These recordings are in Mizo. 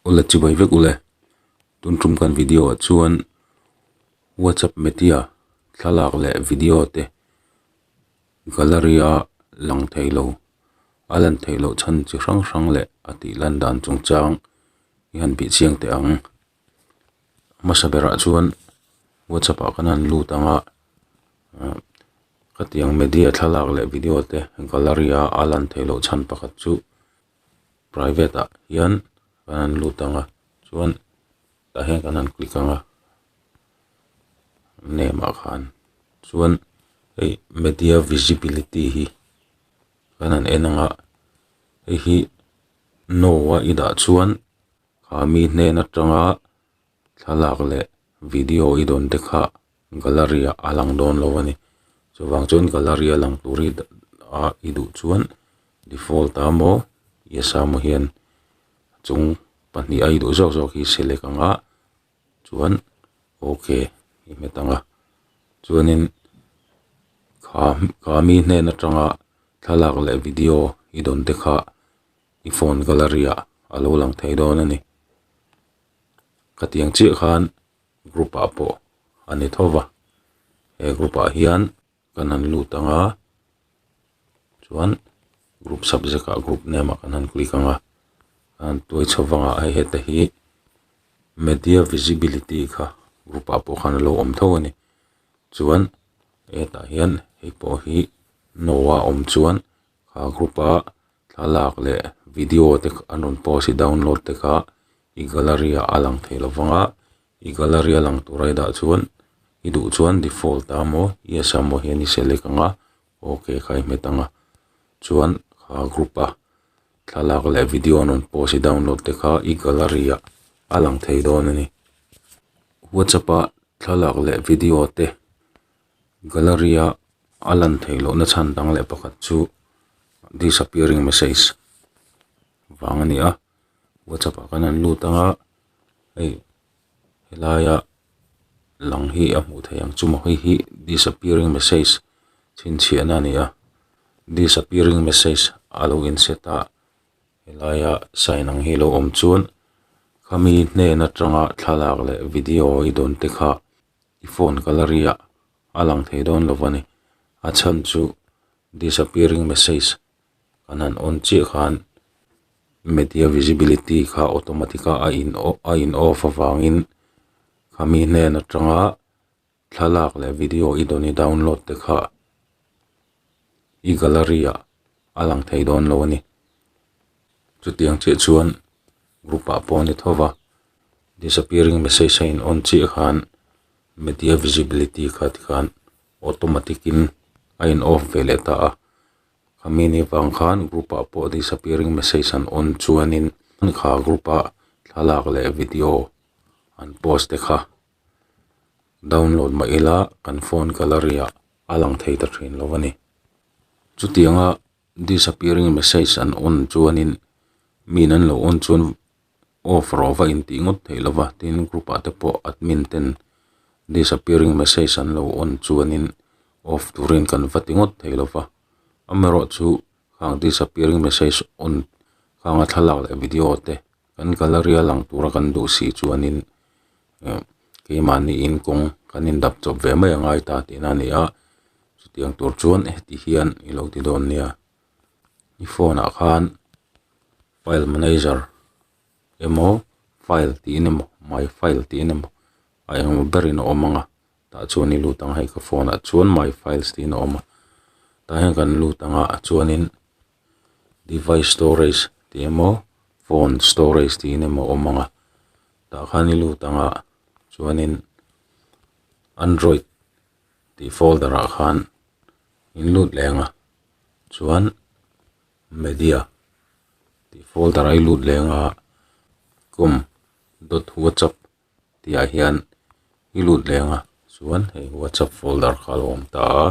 Ule chibai vek ule, tun tum kan video ah chuan WhatsApp media thlalak leh video te gallery a lang thei lo, a lan thei loh chhan chi hrang hrang leh a tih lan dan chung chang i han bih chiang teh ang. Hmasa berah chuan WhatsApp ah kan han lut ang a ah khatiang media thlalak leh video te gallery a a lan thei loh chhan pakhat chu-- private ah hian kan han lut ang a chuan tah hian kan han click ang a name ah khan chuan hei media visibility hi kan han en ang a hei hi no a i dah chuan khami hnena tanga-- Thlalak leh video i dawnte kha gallery ah a lang dawn lo a ni. Chuvang chuan gallery a lang tur hi a i duh chuan default a maw yes a maw hian chung pahnih a i duh zawk zawk hi select ang a chuan ok i hmet ang a. Chuanin Khami hnen atanga thlalak leh video i dawnte kha i phone gallery ah a lo lang thei dawn a ni. ka tiang chiah khan group ah pawh a ni tho va he group ah hian kan han lut ang a chuan group subject ah group name ah kan han click ang a a han tuai chho vang ah hei hete hi media visibility kha group ah pawh khan a lo awm tho a ni chuan he tah hian hei pawh hi no a awm chuan-- Kha group a thlalak leh video te an rawn post i download te kha i gallery ah a lang thei lo vang a i gallery a lang tur aidah chuan i duh chuan default a maw yes a maw hian i select ang a ok kha i hmet ang a chuan kha group a thlalak leh video an rawn post i download te kha i gallery ah a lang thei dawn a ni whatsapp ah thlalak leh video te Gallery a a lan thei lohna chhan dang leh pakhat chu disappearing message vang a ni a whatsapp ah khan an lut ang a hei helaia lang hi a hmuh theih ang chu mahni hi disappearing message chhinchhiahna a ni a disappearing message a lo inset a helaia sign ang hi a lo awm chuan khami hnen atanga thlalak leh video i dawnte kha-- i phone gallery ah a lang thei dawn lo va ni a chhan chu disappearing message kan han on chiah khan media visibility kha automatic a a in off a in off avangin khami hnen atanga thlalak leh video i dawni download te kha i gallery ah-- a lang thei dawn lo a ni chuti ang chiah chuan group ah pawh a ni tho va disappearing message a in on chiah khan media visibility kha ti khan automatic in a in off ve leh ta a khami ni avang khan group ah pawh disappearing message an on chuan in mi kha group ah thlalak leh video an post e kha. download mah ila kan phone gallery ah a lang thei ta thin lo a ni chutianga disappearing message an on chuanin min an lo on chuan off ro va in tih ngawt theih lova tin group ah te pawh admin ten disappearing message an lo on chuanin off turin kan va ti ngawt theih lova amaherawhchu disappearing message on hang a thlalak leh video te-- Kan gallery-a lang tura kan duh si chuanin eh keimahniin kawng kan indap chawp ve mai a ngai ta tihna a ni a, chutiang tur chuan heti hian i lo ti dawn nia i phone ah khan file manager emaw file tiin emaw my file tiin emaw a eng maw ber in a awm ang a tah chuan i lut ang a hei ka phone ah chuan my files tiin a awm a tah hian kan lut ang a chuanin-- device storage tih emaw phone storage tih in emaw awm ang a tah khan i lut ang ah chuanin android tih folder ah khan in lut leh ang a chuan media tih folder ah i lut leh ang a com dot whatsapp tih ah hian i lut leh ang a chuan hei whatsapp folder kha a lo awm ta a.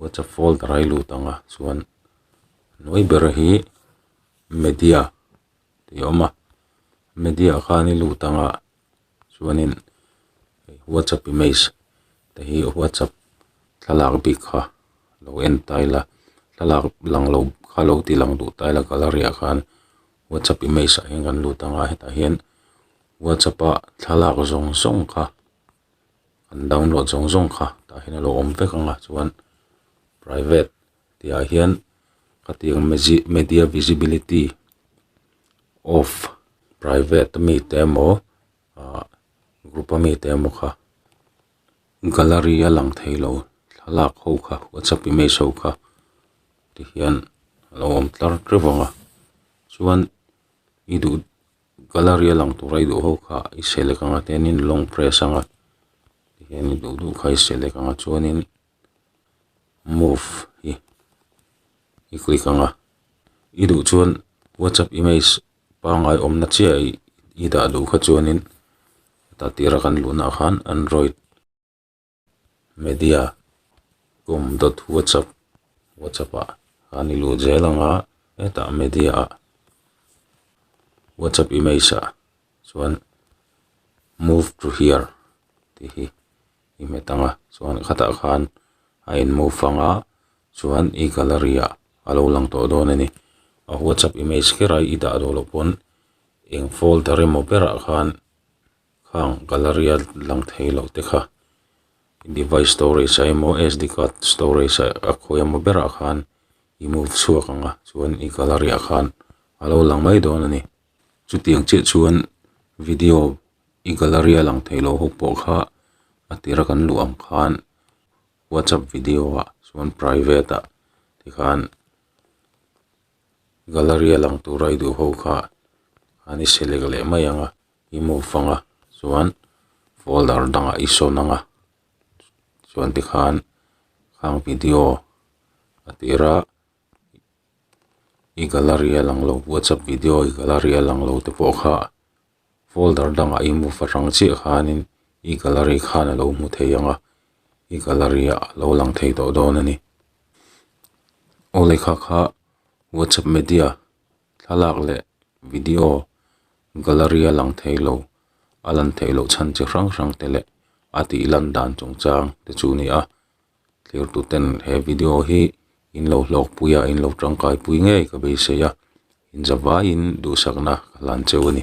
whatsapp folder a hi lut ang a chuan hnuai ber hi media tih a awm a media khan i lut ang a chuanin whatsapp image te hi whatsapp thlalak bik kha lo en tile a thlalak lang lo kha lo ti lang duh tile a gallery ah khan whatsapp image ah hian kan lut ang a hetah hian whatsapp a thlalak zawng zawng kha-- kan download zawng zawng kha tah hian alo awm vek ang a chuan private tih ah hian ka tih ang mezi media visibility off private a mi te emaw ah group a mi te emaw kha gallery a lang thei lo thlalak ho kha whatsapp image ho kha tihian alo awm tlar teuh vang a chuan i duh-- Gallery a lang tur a i duh ho kha i selek ang a tianin long press anga tihian i duh duh kha i selek ang a chuanin move hi i click ang a i duh chuan whatsapp image pangngai awmna chiah a i dah duh kha chuanin tah tira kan luhnaah khan android-- media com dot whatsapp whatsapp ah khan i lut zel ang a hetah media ah whatsapp image ah chuan move to here tih hi i hmet ang a chuan khatah khan a in move ang a chuan i gallery ah a lo lang tawh dawn a ni a whatsapp image kher a i dah duh loh pawn eng folder emaw berah khan-- khang gallery a lang thei loh te kha i device storage ah emaw sd card storage ah a khawi emaw ber ah khan i move chhuak ang a chuan i gallery ah khan a lo lang mai dawn a ni chutiang chiah chuan video i gallery a lang thei loh ho pawh kha a tira kan luh ang khan whatsapp video ah chuan private ah ti khan gallery a lang tura i duh ho kha an i select leh mai ang a. I mu fanga chuan folder dangah i sawn anga chuan tikhan khang video a tir a i gallery a lang lo whatsapp video i gallery a lang lo te pawh kha folder dangah i mu fa hrang chiah khanin i gallery khan a lo hmu thei ang a i gallery ah a lo lang thei tawh dawn a ni aw lekha kha whatsapp media thlalak leh video-- Gallery a lang thei lo, a lan theih loh chhan chi hrang hrang te leh a tih lan dan chungchang te chu ni a. Thirtu ten he video hi in lo hlawk pui a, in lo tangkai pui ngei ka beisei a, in za vaiin duhsakna ka hlan cheu a ni.